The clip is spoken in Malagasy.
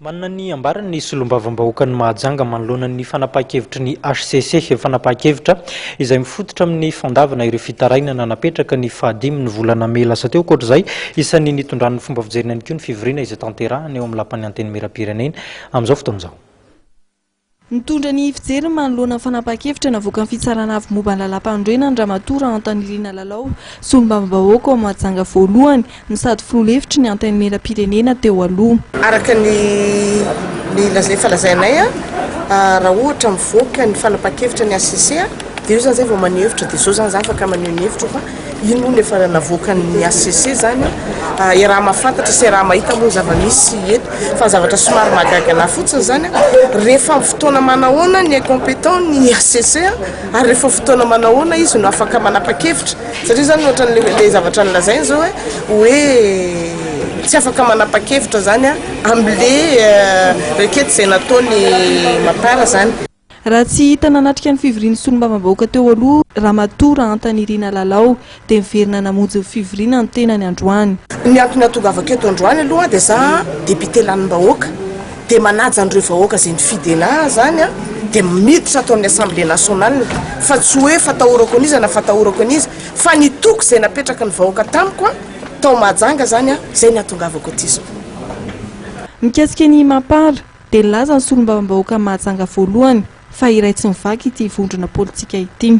Manana ny ambarany ny Solombavambahoakan'i Mahajanga manoloana ny fanapahan-kevitry ny hcc, fanapahan-kevitra izay mifototra amin'ny fandavana ireo fitarainana napetraka ny faha dimy ny volana mey lasa teo. Ankoatra izay, isan'ny nitondran'ny fomba fijeriny ihany koa ny fivoriana izay tanterahina eo amin'ny Lapan'ny Antenimierampirenena amin'izao fotoana izao. Nitondra ny fijeriny manoloana ny fanapahan-kevitra navoakan'ny Fitsarana Avo momba ny Lalàmpanorenana Ramatoa Rahantanirina Lalao, Solombavambahoaka ao Mahajanga voalohany no sady Filoha lefitry ny Antenimierampirenena teo aloha. Araka ny ny laz efa lazainay a, raha ohatra mivoaka ny fanapahan-kevitra ny HCC a, dia eo izany izay vao maneho hevitra, dia izao izany izaho afaka maneho ny hevitro fa. Iny hono efa navoakan'ny hcc izany a, iaraha mahafantatra sy iaraha mahita moa ny zava-misy eto. Fa ny zavatra somary mahagaga an'ahy fotsiny izany a, rehefa amin'ny fotoana manahoana ny incompétent ny hcc a, ary rehefa fotoana manahoana izy no afaka manapa-kevitra? Satria izany ohatran'ilay zavatra nolazainy izao hoe, hoe tsy afaka manapa-kevitra izany a, amin'ilay requête izay nataon'i Mapar izany. Raha tsy hita nanatrika ny fivorian'ny solombavambahoaka teo aloha Ramatoa Rahantanirina Lalao dia miverina namonjy ny fivoriana ny tenany androany. Ny antony hahatongavako eto androany aloha dia za député lanimbahoaka dia manaja an'ireo vahoaka izay ni-fidel ahy zany an dia miditra ato amin'ny assemblée nationale fa tsy hoe fatahorako an'iza na fatahorako an'iza fa ny toky izay napetraky ny vahoaka tamiko an tao Mahajanga zany an izay ny hahatongavako aty izao. Mikasika ny Mapar. dia nilaza ny solombavambahoaka mahajanga voalohany fa iray tsy mivaky ity vondrona politika ity.